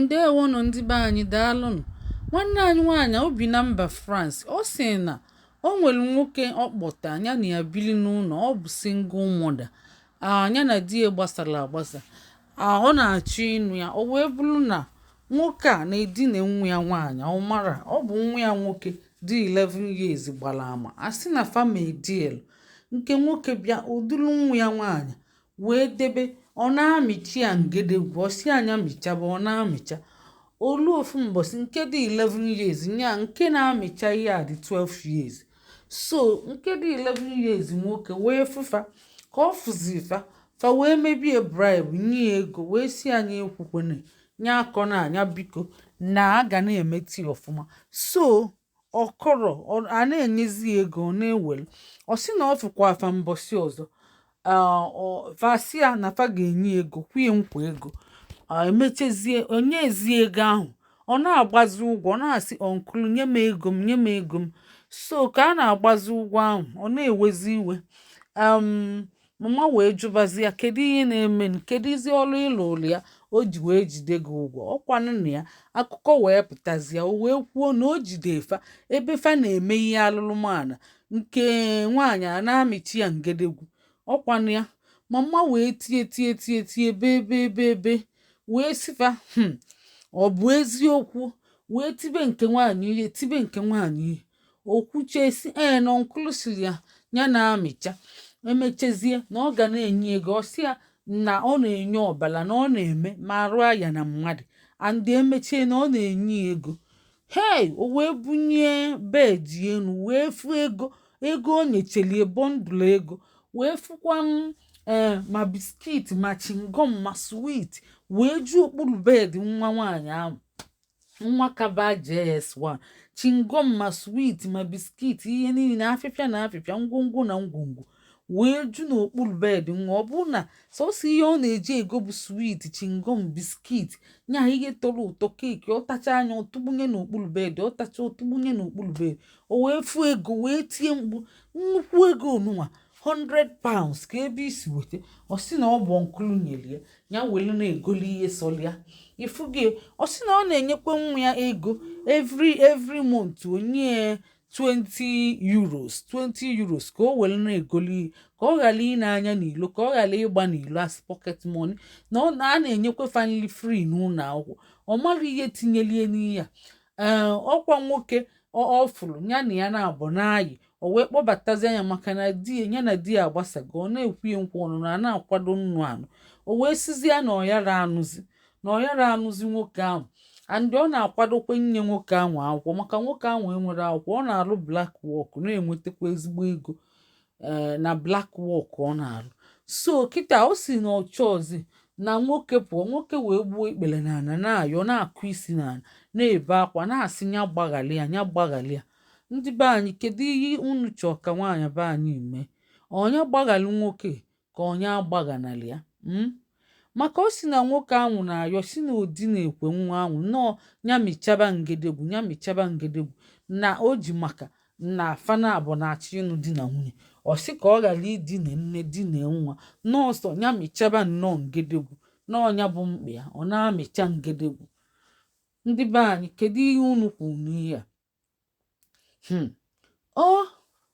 Ndeewonụ ndị be anyị daalụnụ nwanne anyị nwaanyị o bi na mba France ọ sị na o nwere nwoke ọ kpọta ya na ya biri n'ụlọ ọ bụ single mother nya na di ya gbasara agbasa ọ na-achọ ịnụ ya o wee bụrụ na nwoke a na-edina nwa ya nwaanyị ọ marọ ọ bụ nwa ya nwoke dị 11 years gbara ama a sị na fa ma edielu nke nwoke bịa o dulu nwa ya nwaanyị wee debe ọ na-amịcha ya ngedegwu ọ sị ya nya mịchaba ọ na-amịcha o lu ofu mbọsị nke dị 11 years nya nke na-amịcha ihe a dị 12 years so nke dị 11 years nwoke wee fụ fa ka ọ fụzi fa fa wee mebe ya bribe nye ya ego wee sị ya nya ekwukwene nya akọna nya biko na a ga na-emeta ya ọfụma so ọ kọrọ ọ- a na-enyezi ya ego ọ na-ewere ọ sị na ọ fụkwaa fa mbọsị ọzọ ah, ọ- fa sị ya na fa ga-enye ya ego kwe ya nkwa ego ah, e mechezie o nyeezi ego ahụ ọ na-agbazi ụgwọ ọ na-asị uncle nye m ego m nye m ego m so ka a na-agbazi ụgwọ ahụ ọ na-ewezi iwe um, Mama wee jụbazi ya kedu ihe na-eme m kedụzi ọrụ ị rụrụ ya o ji wee jide gị ụgwọ ọ kwanụ na ya akụkọ wee pụtazịa o wee kwuo na o jide fa ebe fa na-eme ihe alụlụmana nke nwaanyị a na-amịcha ya ngedegwu ọ kwanụ ya mama wee tie tie tie tie bee bee bee bee wee sị fa hmm, ọ bụ eziokwu wee tibe nke nwaanyị ihe tibe nke nwaanyị ihe o kwuche sị ee na uncle sịrị ya ya na-amịcha e mechezie na ọ ga na-enye ego ọ sị ya na ọ na-enye ọbara na ọ na-eme ma arụ ya na mmadụ and e mechie na ọ na-enye ego hei o wee bunie bed enu wee fụ ego ego o nyecheli ya bundle ego wee fụkwa ee eh, ma biskit ma chingom ma swit wee ju okpuru bed nwa nwaanyị ahụ nwa ka ba JS1 chingom ma swit ma biskit ihe niile afịfịa na afịfịa ngwongwo na ngwongwo wee ju n'okpuru bed nwa ọ bụ na sọsọ ihe ọ na-eji ego bụ swit chingom biskit nya ihe tọrọ ụtọ keeki ọ tachaa nya ọ tụbanye n'okpuru bed ọ tacha ọ tụbanye n'okpuru bed o wee fụ ego wee tie mkpu nnukwu ego nụnwa 100 pounds kee ebe i si weta ọ sị na ọ bụ uncle nyere ya ya welu na-egoli ihe sọrọ ya ị fụgo ọ sị na ọ na-enyekwa nwa ya ego every every month o nye ya 20 euros 20 euros ka o were na-egoli ihe ka ọ ghara ine anya n'ilo ka ọ ghara ịgba n'ilo as pocket money na ọ na a na-enyekwa fa nli free n'ụlọ akwụkwọ ọ marọ ihe tinyeli ya n'ihe a ee ọkwa nwoke ọ fụrụ ya na ya naabọ na-ayị o wee kpọbatazia ya maka na ya na di ya agbasago ọ na-ekwe ya nkwa ọnụnụ na-akwado ịnụ anụ o wee sịzi ya na ọ yara anụzi na ọ yara anụzi nwoke ahụ and ọ na-akwadokwa inye nwoke ahụ akwụkwọ maka nwoke ahụ enwere akwụkwọ ọ na-arụ black work na-enwetakwa ezigbo ego eh, na black work ọ na-arụ so kịta ọ sị na ọ chọzi na nwoke pụọ nwoke wee gbuo ikpere n'ala na-ayọ na-akụ isi n'ala na-ebe akwa na-asị ya gbaghara ya ya gbaghara ya ndị be anyị kedu ihe unu chọọ ka nwaanyị be anyị mee ọ nya gbaghara nwoke ka ọ nya agbaghanarị ya hmm? maka ọ sị na nwoke ahụ na-ayọ sị na o dinekwe nwa ahụ nọọ ya mịchaba ngedegwu ya mịchaba ngedegwu na o ji maka na fa naabọ na-achọ ịnụ di na nwunye ọ sị ka ọ ghara idina nne dina nwa nọọsọ ya mịchaba nnọọ ngedegwu na ọ nya bụ mkpa ya ọ na-amịcha ngedegwu ndị be anyị kedu ihe unu kwuru n'ihe a Hmm. Oh,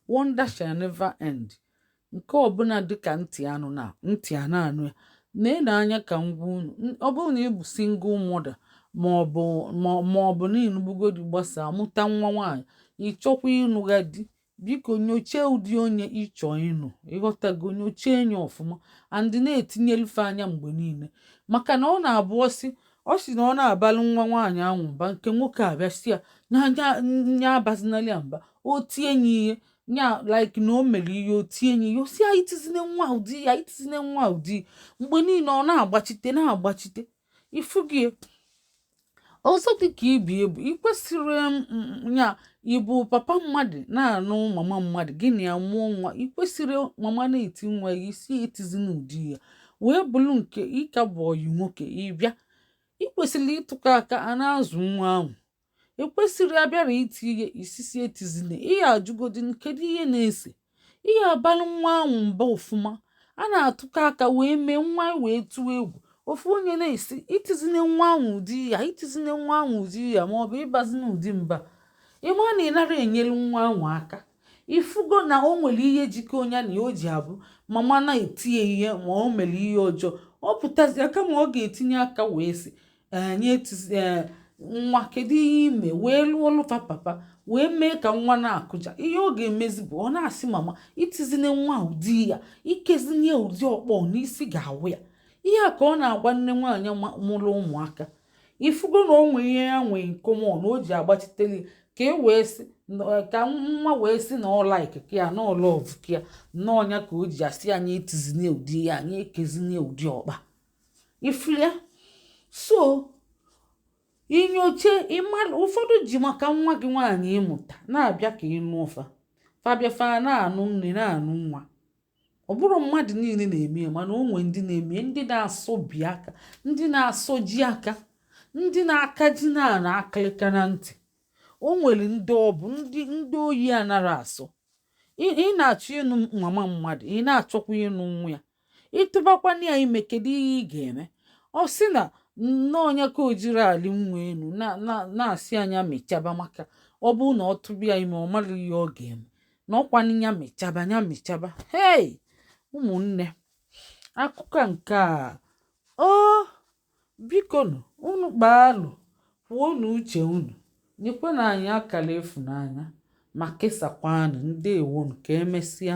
wonder shall never end. Nke ọbụla dịka ntị anụna ntị a na-anụ ya na-ele anya ka m gwa unu ọ bụrụ na ị bụ single mother maọbụ maọbụ na ị nụbugo di gbasaa mụta nwa nwaanyị ị chọkwa ịnụgha di biko nyochee ụdị onye ị chọ ịnụ ị ghọtago nyochee nya ọfụma and na-etinyelụ fa anya mgbe niile maka na ọ na-abụ ọ sị ọ sị na ọ na-abalị nwa nwaanyị ahụ mba nke nwoke abịa sị ya nya abazinali ya mba o tie nya ihe nya like na o mere ihe o tie nya ihe ọ sị ya itizine nwa ụdị ya itizine nwa ụdị mgbe niile ọ na-agbachite na-agbachite ị fụgo ya ọzọ dị ka ibe ya bụ i kwesịrị ya ị bụ papa mmadụ na-anụ mama mmadụ gị na ya mụọ nwa i kwesịrị mama na-eti nwa ya ị sị etizina ụdị ya wee bụrụ nke ị ka bụ ọyị nwoke ị bịa i kwesịrị ịtụkọ aka a na-azụ nwa ahụ e kwesịrị a bịara iti ihe ị sị sị etizina ị ya-ajụgodi kedu ihe na-ese ị ya-abalị nwa ahụ mba ọfụma a na-atụkọ aka wee mee nwa wee tụọ egwu ofu onye na-asị itizine nwa ahụ ụdị ya itizine nwa ahụ ụdị ya ma ọ bụ ịbazina ụdị mba ị ma na ị nara enyere nwa ahụ aka ị fụgo na o nwere ihe jikọ nya na ya o ji abụ mama na-eti nya ihe ma o mere ihe ọjọọ ọ pụtazia kama ọ ga-etinye aka wee sị ee nye tụzi ee nwa kedu ihe i me wee lụọ ọlụ ka papa wee mee ka nwa na-akụja ihe ọ ga-emezi bụ ọ na-asị mama itizine nwa ụdị ya ikezine ya ụdị ọkpọ na isi ga-awụ ya ihe a ka ọ na-agwa nne nwaanyị ma- mụrụ ụmụaka ị fụgo na o nwee ihe ya nwee in common o ji agbachiteli ka e wee sị na- ka nwa wee sị na ọ like ka ya na ọ love ka ya na ọ nya ka o ji asị nya etizine ụdị ya nya ekezine ụdị ọkpọ a ifulia so inyocha ịmara ụfọdụ ji maka nwa gị nwaanyị ị mụta na-abịa ka ịnụ ụfa fa bịa fa ana-anụ nne na-anụ nwa ọ bụrọ mmadụ niile na-eme ya mana o nwee ndị na-eme ndị na-asọ bi aka ndị na-asọ ji aka ndị na-aka ji na-ana akịlịka na ntị o nwere ndị ọ bụ ndị ndị oyi anara asọ ị na-achọ ịnụ mama mmadụ ị na-achọkwa ịnụ nwa ya ị tụbakwanụ ya ime kedu ihe ị ga-eme ọ sị na n'ọ nya ka o jiri ali nwa enu na-asị a nya mechaba maka ọ bụrụ na ọ tụba ya ime ọ mara ihe ọ ga-eme na ọ kwanụ ya mechaba ya mechaba hei ụmụnne akụkọ nke a o biko nụ unu kpaalụ kwuonụ uche unu nyekwanụ anyị akara ịfụnanya ma kesakwanụ ndewonụ ka emesịa